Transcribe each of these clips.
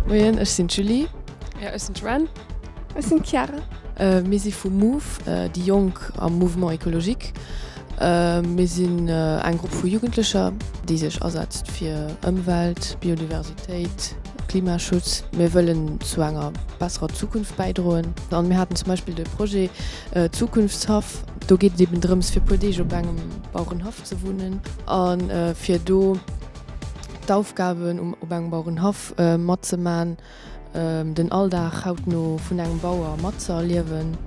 Moien, ech sinn d'Julie. A ech sinn d'Joanne. Ech sinn d'Chiara. Mir si vu move, déi Jonk am Mouvement Ecologique. Mir sinn eng Grupp vu Jugendlecher, déi sech asetzt fir Ëmwelt, Biodiversitéit. Klimaschutz, mir wëllen zu enger besserer Zukunft bäidroen. An mir haten zum Beispill de Projet Zukunftshaff. Do geet et eben drëms fir e puer Deeg op engem Bauerenhaff ze wunnen a fir do d'Aufgaben op engem Bauerenhaff matzemaachen, den Alldag hautno vun engem Bauer matzëerliewen.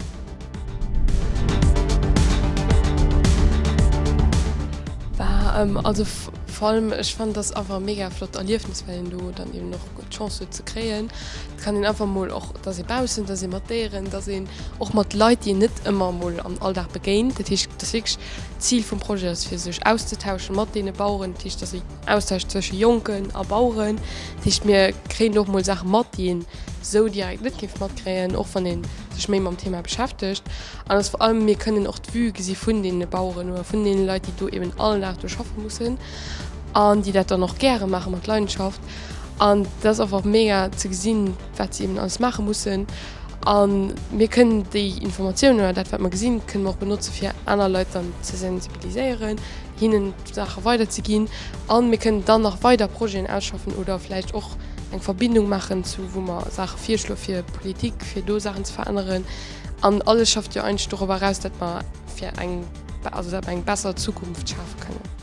War also Vor allem ech fannen dass einfach e mega flott Erliefnis well een do dann eben och d'Chance huet ze kréien, et kann een einfach mol och dass ee baussen, dass ee mat Déieren, dass een och mat Leit déi een net ëmmer mol am Alldag begéint. Dat heescht dass wierklech d'Zil vum Projet ass fir sech auszetauschen mat deene Baueren, dat heescht dass een Austausch zwësche Jonken a Baueren, dat heescht mir kréien och mol Saache mat déi een esou direkt net géif matkréien, och wann ee sech méi mam Thema beschäftegt. An dass vor allem mir kënnen och d'Vue gesi vun deene Baueren oder vun deene Leit, déi do eben all Dag do schaffe mussen an déi dat dann och gäre maache mat Leidenschaft. An dat ass einfach mega ze gesinn, wat si eben alles maache mussen. A mir kënnen déi Informatiounen oder dat, wat mer gesinn, kënnen mer och benotze fir aner Leit dann ze sensibiliséieren, hinnen d'Saache weiderzeginn. A mir kënnen dann nach weider Projeten ausschaffen oder vläicht och eng Verbindung maachen zu wou mer Saache virschloe fir d'Politik, fir do Saachen ze veränneren. An alles schafft jo eigentlech dorobber eraus, datt mer fir eng, also datt mer eng besser Zukunft schafe kënnen.